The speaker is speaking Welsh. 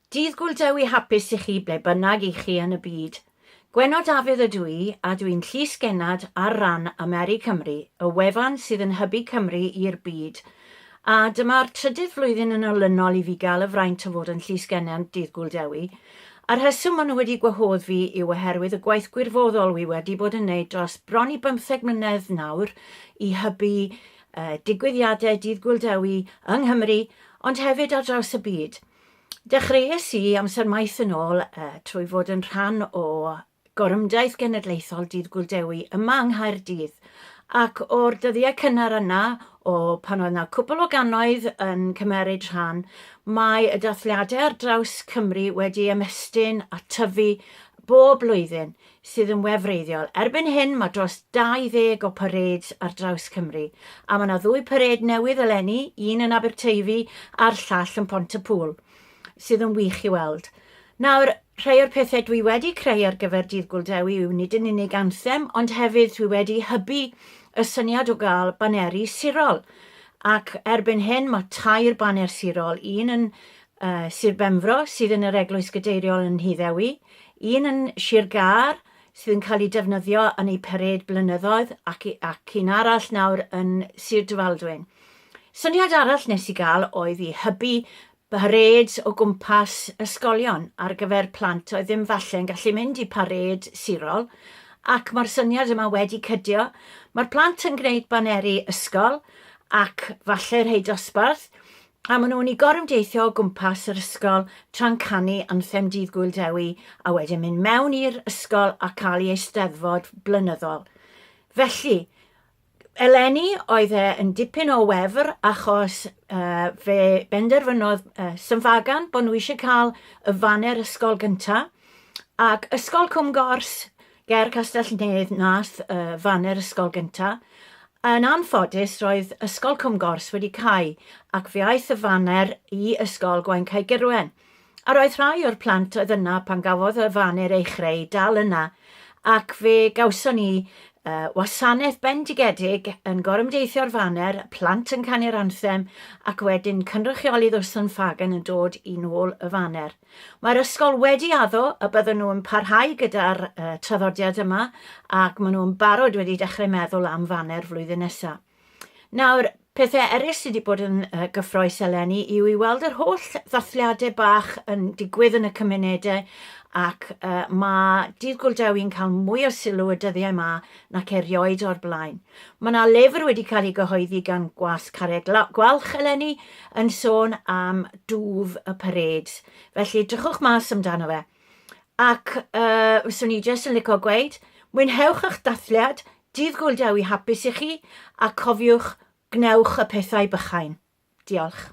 Dydd Gŵyl Dewi hapus i chi ble bynnag i chi yn y byd. Gwenno Dafydd ydw i a dw i'n Llys Gennad ar ran Ameri Cymru, y wefan sydd yn hybu Cymru i'r byd. A dyma'r trydydd flwyddyn yn olynol i fi gael y fraint o fod yn Llys Gennad Dydd Gŵyl Dewi. Y rheswm maen nhw wedi gwahodd fi yw oherwydd y gwaith gwirfoddol wi wedi bod yn wneud dros bron i bymtheg mlynedd nawr i hybu digwyddiadau Dydd Gŵyl Dewi yng Nghymru ond hefyd ar draws y byd. Dechreuais i amser maith yn ôl trwy fod yn rhan o Gorymdaith Genedlaethol Dydd Gŵyl Dewi yma yng Nghaerdydd ac o'r dyddiau cynnar yna o pan oedd 'na cwpl o gannoedd yn cymeryd rhan mae y dathliadau ar draws Cymru wedi ymestyn a tyfu bob blwyddyn. sydd yn wefreiddiol. Erbyn hyn mae dros 20 o parades ar draws Cymru, a mae 'na ddwy parêd newydd eleni, un yn Aberteifi a'r llall yn Pont-y-pŵl, sydd yn wych i weld. Nawr, rhai o'r pethau dwi wedi creu ar gyfer Dydd Gwl Dewi yw nid yn unig anthem, ond hefyd dwi wedi hybu y syniad o gael baneri sirol, ac erbyn hyn mae tair baner sirol, un yn y Sir Benfro sydd yn yr Eglwys Gadeiriol yn Nhŷ Ddewi, un yn Sir Gâr sydd yn cael ei defnyddio yn eu parêd blynyddoedd ac, ac un arall nawr yn Sir Drefaldwyn. Syniad arall nes i gael oedd i hybu parêds o gwmpas ysgolion ar gyfer plant oedd ddim falle yn gallu mynd i parêd sirol ac mae'r syniad yma wedi cydio. Mae'r plant yn gwneud baneri ysgol ac falle rhai dosbarth A maen nhw'n i gorymdeithio o gwmpas yr ysgol tra'n canu anthem Dydd Gŵyl Dewi a wedyn mynd mewn i'r ysgol a cael ei eisteddfod blynyddol. Felly, eleni oedd e yn dipyn o wefr achos uh, fe benderfynodd uh, Synfagan bod nhw eisiau cael y faner ysgol gyntaf ac Ysgol Cwm Gors Ger Castell-nedd Nath y faner ysgol gynta'. Yn anffodus roedd Ysgol Cwm Gors wedi cau ac fe aeth y faner i Ysgol Gwaun-cae-gurwen, a roedd rhai o'r plant oedd yna pan gafodd y faner ei chreu dal yna ac fe gawson ni yy wasanaeth bendigedig yn gorymdeithio'r faner, plant yn canu'r anthem ac wedyn cynrychiolydd Ustland Ffagan yn dod i nôl y faner. Mae'r ysgol wedi addo y bydden nhw'n parhau gyda'r uh, traddodiad yma ac maen nhw'n barod wedi dechrau meddwl am faner flwyddyn nesaf. Nawr, pethau eraill sydd wedi bod yn uh, gyffroes eleni yw i weld yr holl ddathliadau bach yn digwydd yn y cymunedau ac uh, mae Dydd Gwldewi'n cael mwy o sylw y dyddiau yma nac erioed o'r blaen. Mae yna lyfr wedi cael ei gyhoeddi gan Gwas Carreg Gwalch eleni yn sôn am dwf y pared. Felly, drychwch mas amdano fe. Ac uh, fyswn i jyst yn licio gweud, mwynhewch eich dathliad, dydd gwyl dewi hapus i chi, a cofiwch, gwnewch y pethau bychain. Diolch.